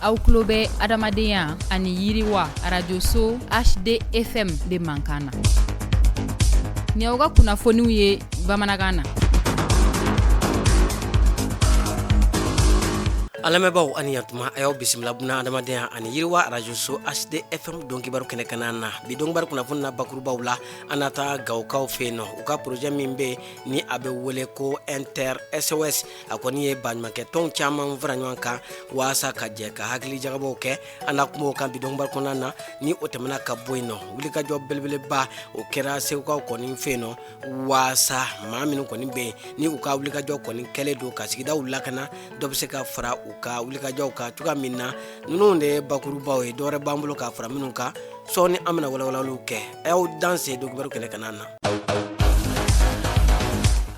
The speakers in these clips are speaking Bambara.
aw tulo bɛ adamadenya ani yiriwa arajoso hdfm de mankan na ni aw ka kunnafoniw ye bamanankan na an lamɛnbaaw ani yantuma a y'aw bisimila buna adamadenya ani yiriwa arajoso hdfm don kibaru kɛnɛ kanna na bi donkibaru kunnafoni na bakurubaw la an na taa gawokaw fɛ yen nɔ u ka porojɛ min bɛ ni a bɛ wele ko intersos a kɔni ye baɲumankɛ tɔn caman fara ɲɔgɔn kan waasa ka jɛ ka hakili jagabɔw kɛ an na kuma o kan bi donkibaru kɔnɔna na ni o tɛmɛna ka bɔ yen nɔ wulikajɔ belebeleba o kɛra segukaw kɔni fɛ yen nɔ waasa maa minnu kɔni bɛ ni u ka wulikajɔ kɔni kɛlen don ka sigidaw lakana dɔ bɛ se ka fara u ka wulikajɔw kan cogoya min na ninnu de ye bakurubaw ye dɔwɛrɛ b'an bolo ka fara minnu kan sɔɔni an bɛna walawalaliw kɛ a y'aw danse donkibaru kɛnɛ kanna na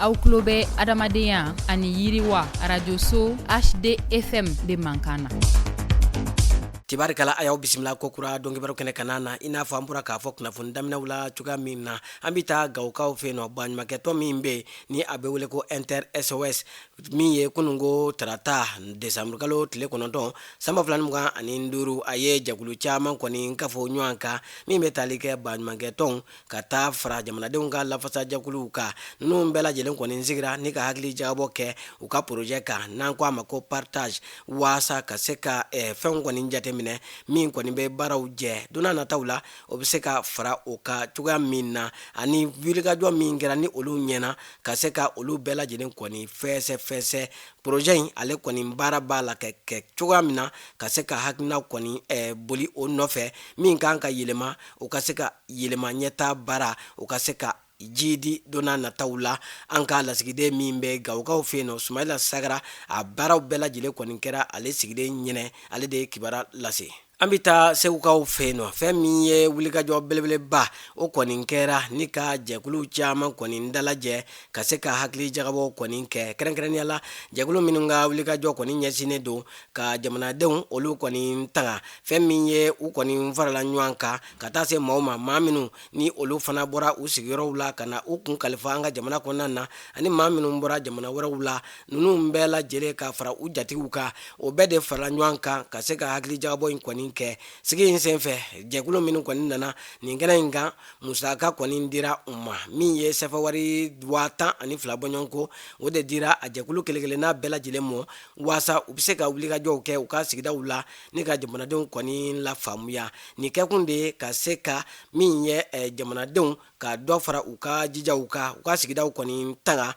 aw tulo bɛ adamadenya ani yiriwa arajoso hdfm de mankan na tibarikala a y'aw bisimila ko kura donkibaru kɛnɛ kanna na i n'a fɔ an bɔra k'a fɔ kunnafoni daminɛw la cogoya min na an bɛ taa gawokaw fɛ yen nɔ baɲumankɛtɔn min bɛ ni a bɛ wele ko intersos min ye kununko tarata desanburukalo tile kɔnɔntɔn san ba fila mugan ani duuru a ye jɛkulu caman kɔni kafo ɲɔgɔn kan min bɛ tali kɛ baɲumankɛtɔn ka taa fara jamanadenw ka lafasa jɛkuluw kan ninnu bɛɛ lajɛlen kɔni sigira ni ka hakili jagabɔ kɛ u ka porojɛ kan n'an ko a ma ko partage waasa ka se ka fɛn kɔni jateminɛ min kɔni bɛ baaraw jɛ don nataw la o bɛ se ka fara u kan cogoya min na ani wulikajɔ min kɛra ni olu ɲɛna ka se ka olu bɛɛ lajɛlen kɔni fɛsɛfɛsɛ porojɛ in ale kɔni baara b'a la ka kɛ cogoya min na ka se ka hakilina kɔni boli o nɔfɛ min kan ka yɛlɛma o ka se ka yɛlɛma ɲɛtaa baara o ka se ka jidi don nataw la an ka lasigiden min bɛ gawokaw fɛ yen nɔ sumayila sagara a baaraw bɛɛ lajɛlen kɔni kɛra ale sigilen ɲɛ na ale de ye kibaru lase an bɛ taa segukaw fɛ yen nɔ fɛn min ye wulikajɔ belebeleba o kɔni kɛra ni ka jɛkulu caman kɔni dalajɛ ka se ka hakili jagabɔw kɔni kɛ kɛrɛnkɛrɛnnenya la jɛkulu minnu ka wulikajɔ kɔni ɲɛsinnen don ka jamanadenw olu kɔni tanga fɛn min ye u kɔni farala ɲɔgɔn kan ka taa se maaw ma maa minnu ni olu fana bɔra u sigiyɔrɔw la ka na u kun kalifa an ka jamana kɔnɔna na ani maa minnu bɔra jamana wɛrɛw la ninnu bɛɛ lajɛlen ka fara u jatigiw kan o bɛɛ de farala ɲɔgɔn kan ka se ka hakilijakabɔ in kɔni kɛ sigi in senfɛ jɛkulu minnu kɔni nana nin kɛnɛ in kan musaka kɔni dira u ma min ye sɛfa wari waa tan ani fila bɔɲɔgɔnko o de dira a jɛkulu kelenkelenna bɛɛ lajɛlen ma waasa u bɛ se ka wulikajɔw kɛ u ka sigidaw la ni ka jamanadenw kɔni lafaamuya nin kɛkun de ye ka se ka min ye eh, jamanadenw ka dɔ fara u ka jijaw kan u ka sigidaw kɔni tanga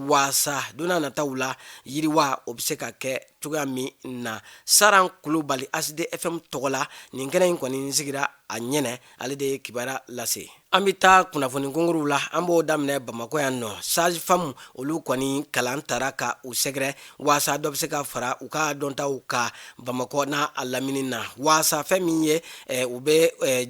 waasa donna nataw la yiriwa o bɛ se ka kɛ cogoya min na saran kulubali hd fm tɔgɔ la nin kɛnɛ in kɔni sigira a ɲɛnɛ ale de ye kibara lase an bɛ taa kunnafoni kunkuruw la an b'o daminɛ bamakɔ yan nɔ sage-femme olu kɔni kalan taara ka u sɛgɛrɛ waasa dɔ bɛ se ka fara u ka dɔntaw kan bamakɔ n'a lamini na waasa fɛn min ye u bɛ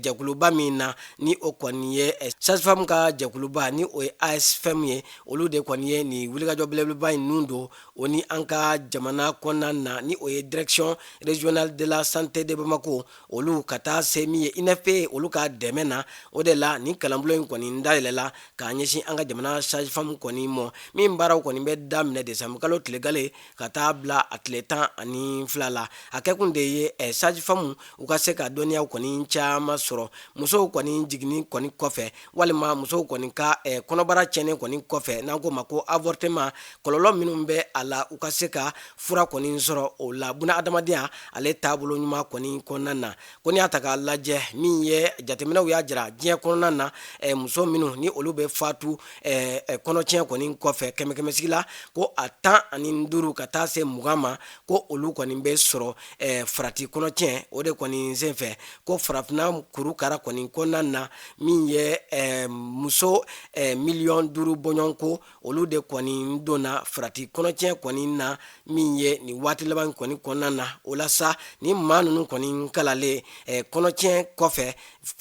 jɛkuluba min na ni o kɔni ye sage-femme ka jɛkuluba ni o ye asfm ye olu de kɔni ye nin wulikajɔ belebeleba in nun don o ni an ka jamana kɔnɔna na ni o ye direction régionale de la santé de bamakɔ olu ka taa se min ye unfpa olu ka dɛmɛ na o de la nin kalanbulon in kɔni dayɛlɛla k'a ɲɛsin an ka jamana sage-femme kɔni mɔ min baaraw kɔni bɛ daminɛ desanburu kalo tile gale ka taa bila a tile tan ani fila la a kɛkun de ye sage-femme u ka se ka dɔnniyaw kɔni caman sɔrɔ musow kɔni jiginni kɔni kɔfɛ walima musow kɔni ka eh, kɔnɔbara cɛnni kɔni kɔfɛ n'an k'o ma ko avortement kɔlɔlɔ minnu bɛ a la u ka se ka fura kɔni sɔrɔ o la bunadamadenya ale taabolo ɲuman kɔni kɔnɔna na ko n'i y'a ta k'a lajɛ min ye jateminɛw y'a jira diɲɛ kɔnɔna na eh, muso minnu ni olu bɛ fatu eh, eh, kɔnɔtiɲɛ kɔni kɔfɛ kɛmɛkɛmɛsigi la ko a tan ani duuru ka taa se mugan ma ko olu kɔni bɛ sɔrɔ eh, farati kɔnɔtiɲɛ o de kɔni senfɛ ko farafinna kurukara kɔni kɔnɔna na min ye eh, muso eh, miliyɔn duuru bɔɲɔgɔn ko olu de kɔni donna farati kɔnɔtiɲɛ kɔni na min ye nin waati laban kɔni kɔnɔna na o la sa ni maa ninnu kɔni kalannen eh, kɔnɔtiɲɛ kɔfɛ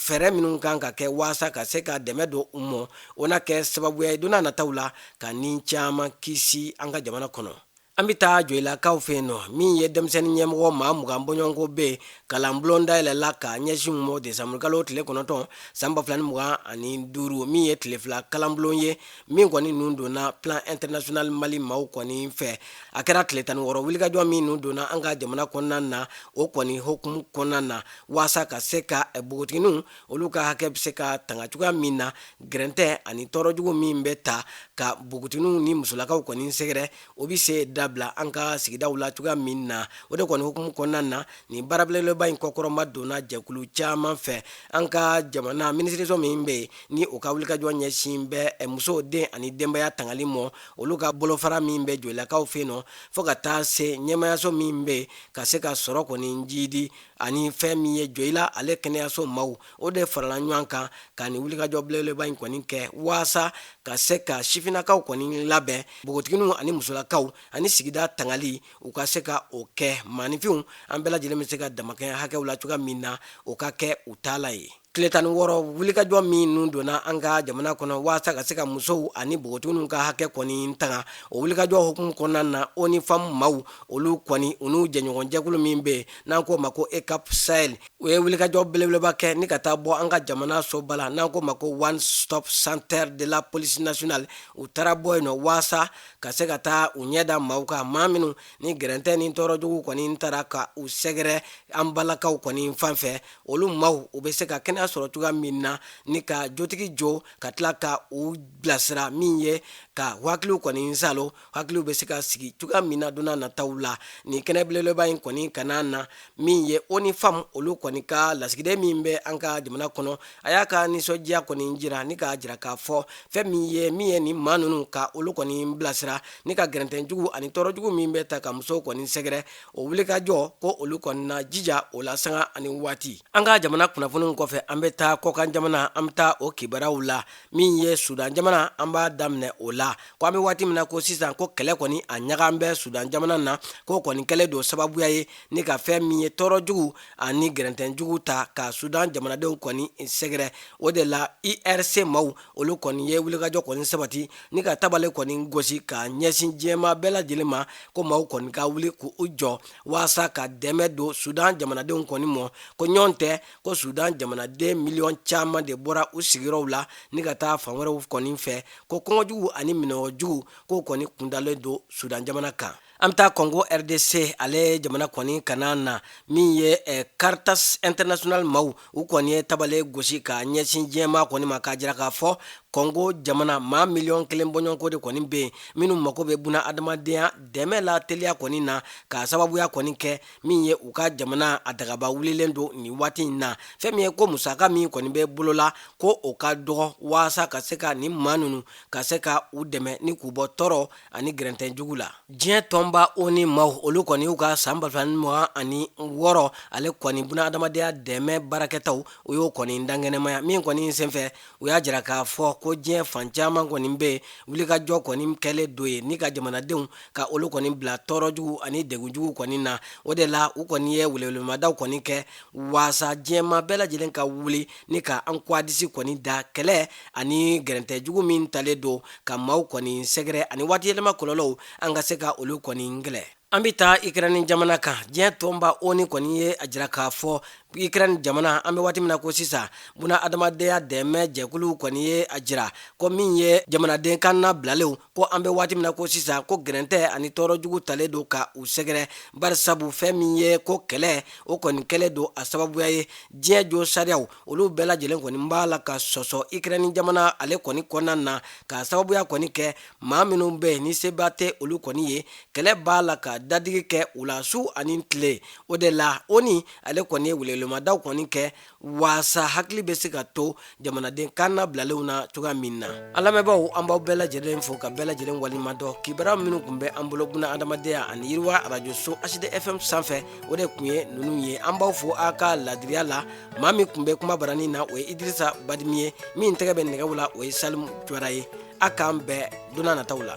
fɛɛrɛ minnu kan ka kɛ waasa ka se ka dɛmɛ don u mɔ o na kɛ sababuya ye donna nataw la ka ni caman kisi an ka jamana kɔnɔ an bɛ taa joyilakaw fɛ yen nɔ min ye denmisɛnnin ɲɛmɔgɔ maa mugan bɔɲɔgɔnko bɛ yen kalanbulon dayɛlɛla ka ɲɛsin u mɔ desanburukalo tile kɔnɔntɔn san ba fila ni mugan ani duuru min ye tile fila kalanbulon ye min kɔni nun donna plan international mali maaw kɔni fɛ a kɛra tile tan ni wɔɔrɔ wulikajɔ min nun donna an ka jamana kɔnɔna na o kɔni hukumu kɔnɔna na waasa ka se ka npogotigininw olu ka hakɛ bɛ se ka tanga cogoya min na gɛrɛntɛ ani tɔɔrɔjugu min bɛ ta ka npogotigininw ni musolakaw kɔni sɛgɛrɛ o bɛ se dabila an ka sigidaw la cogoya min na o de kɔni hukumu kɔnɔna na nin baara belebeleba in kɔkɔrɔmadonna jɛkulu caman fɛ an ka jamana minisiriso min bɛ yen ni o ka wulikajɔ ɲɛsin bɛ eh, musow den ani denbaya tangali mɔ olu ka bolofara min bɛ joyilakaw fɛ yen nɔ fo ka taa se ɲɛmayaso min bɛ ka se ka sɔrɔ kɔni jidi ani fɛn min ye joyila ale kɛnɛyaso maw o de farala ɲɔgɔn kan ka nin wulikajɔ belebeleba in kɔni kɛ waasa ka se ka sifinnakaw kɔni labɛn npogotigininw ani musolakaw ani sigida tangali u ka se ka o kɛ maaninfinw an bɛɛ lajɛlen bɛ se ka damakɛɲɛ hakɛw la cogoya min na o ka kɛ u taala ye tile tan ni wɔɔrɔ wulikajɔ minnu donna an ka jamana kɔnɔ waasa ka se ka musow ani npogotigininw ka hakɛ kɔni tanga o wulikajɔ hukumu kɔnɔna na onu femmes maaw olu kɔni u n'u jɛɲɔgɔnjɛkulu min bɛ yen n'an k'o ma ko eucap sahel u ye wulikajɔ belebeleba kɛ ni ka taa bɔ an ka jamana soba la n'an k'o ma ko one stop center de la police nationale u taara bɔ yen nɔ waasa ka se ka taa u ɲɛ da maaw kan maa minnu ni gɛrɛntɛ ni tɔɔrɔ jugu kɔni taara ka u sɛgɛrɛ an balakaw kɔni fan fɛ olu maaw u bɛ se ka kɛnɛya sɔrɔ cogoya min na ni ka jotigi jɔ ka tila ka u bilasira min ye ka hakiliw kɔni saalo hakiliw bɛ se ka sigi cogoya min na donna nataw la nin kɛnɛ belebeleba in kɔni kan na min ye onu femmes olu kɔni ka lasigiden min bɛ an ka jamana kɔnɔ a y'a ka nisɔndiya kɔni jira ni k'a jira k'a fɔ fɛn min ye min ye nin maa ninnu ka olu kɔni bilasira ni ka gɛrɛntɛjugu ani tɔɔrɔjugu min bɛ taa ka muso kɔni sɛgɛrɛ o wulikajɔ ko olu kɔni na jija o la sanga ani waati an ka jamana kunnafoniw kɔfɛ an bɛ taa kɔkan jamana an bɛ taa o kibaruyaw la min ye sudan jamana an b'a daminɛ o la ko an bɛ waati min na ko sisan ko kɛlɛ kɔni a ɲagan bɛ sudan jamana na k'o kɔni kɛlen don sababuya ye ni ka fɛn min ye tɔɔrɔ jugu ani gɛrɛntɛjugu taa ka sudan jamanadenw kɔni sɛgɛrɛ o de la irc maaw olu kɔni ye wulikajɔ kɔni sabati ni ka tabale kɔni gosi ka ɲɛsin diɲɛma bɛɛ lajɛlen ma ko maaw kɔni ka wuli k'u jɔ waasa ka dɛmɛ don sudan jamanadenw kɔni mɔ ko ɲɔgɔn tɛ ko sudan jamanaden miliyɔn caman de bɔra u sigiyɔrɔw la ni ka taa fan wɛrɛw kɔni fɛ ko kɔngɔjugu ani minnɔgɔjugu k'o kɔni kundalen don sudan jamana kan an bɛ taa kongo rdc ale jamana kɔni kan na min ye caritas international maaw u kɔni ye tabale gosi ka ɲɛsin diɲɛma kɔni ma k'a jira k'a fɔ kongo jamana maa miliyɔn kelen bɔɲɔgɔnko de kɔni bɛ yen minnu mago bɛ buna adamadenya dɛmɛ la teliya kɔni na ka sababuya kɔni kɛ min ye u ka jamana a dagaba wulilen don nin waati in na fɛn min ye ko musaka min kɔni bɛ bolo la ko o ka dɔgɔ waasa ka se ka nin maa ninnu ka se ka u dɛmɛ ni k'u bɔ tɔɔrɔ ani gɛrɛntɛjugu la diɲɛ tɔnba onu maaw olu kɔni y'u ka san ba fila ni mugan ani wɔɔrɔ ale kɔni buna adamadenya dɛmɛ baarakɛtaw u y'o kɔni dankɛnɛmaya min kɔni senfɛ u y'a jira k'a fɔ ko diɲɛ fan caman kɔni bɛ yen wulikajɔ kɔni kɛlen don ye ni ka jamanadenw ka olu kɔni bila tɔɔrɔjugu ani degunjugu kɔni na o de la u kɔni ye welewelemadaw kɔni kɛ waasa diɲɛma bɛɛ lajɛlen ka wuli ni ka an kuwadisi kɔni da kɛlɛ ani gɛrɛntɛjugu min talen don ka maaw kɔni sɛgɛrɛ ani waatiyɛlɛma kɔlɔlɔw an ka se ka olu kɔni kɛlɛ an bɛ taa ikrɛni jamana kan diɲɛ tɔnba onu kɔni ye a jira k'a fɔ ikrɛni jamana an bɛ waati min na ko sisan buna adamadenya dɛmɛ jɛkuluw kɔni ye a jira ko min ye jamanaden kannabilalenw ko an bɛ waati min na ko sisan ko gɛrɛntɛ ani tɔɔrɔjugu talen don ka u sɛgɛrɛ barisabu fɛn min ye ko kɛlɛ o kɔni kɛlen don a sababuya ye diɲɛ josariyaw olu bɛɛ lajɛlen kɔni b'a la ka sɔsɔ ikrɛni jamana ale kɔni kɔnɔna na k'a sababuya kɔni kɛ maa minnu bɛ yen ni seba tɛ olu kɔni ye kɛlɛ b'a la ka dadigi kɛ u la su ani tile o de la onu ale kɔni ye welewelemadaw kɔni kɛ waasa hakili bɛ se ka to jamanaden kannabilalenw na cogoya min na an lamɛnbaaw an b'aw bɛɛ lajɛlen fo ka bɛɛ lajɛlen waleɲumandɔn kibaruya minnu tun bɛ an bolo buna adamadenya ani yiriwa arajoso hd fm sanfɛ o de tun ye ninnu ye an b'aw fo a ka ladiriya la maa min tun bɛ kuma baranin na o ye idrisa badimi ye min tɛgɛ bɛ nɛgɛw la o ye salimu jawara ye a k'an bɛn don nataw la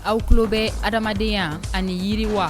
aw tulo bɛ adamadenya ani yiriwa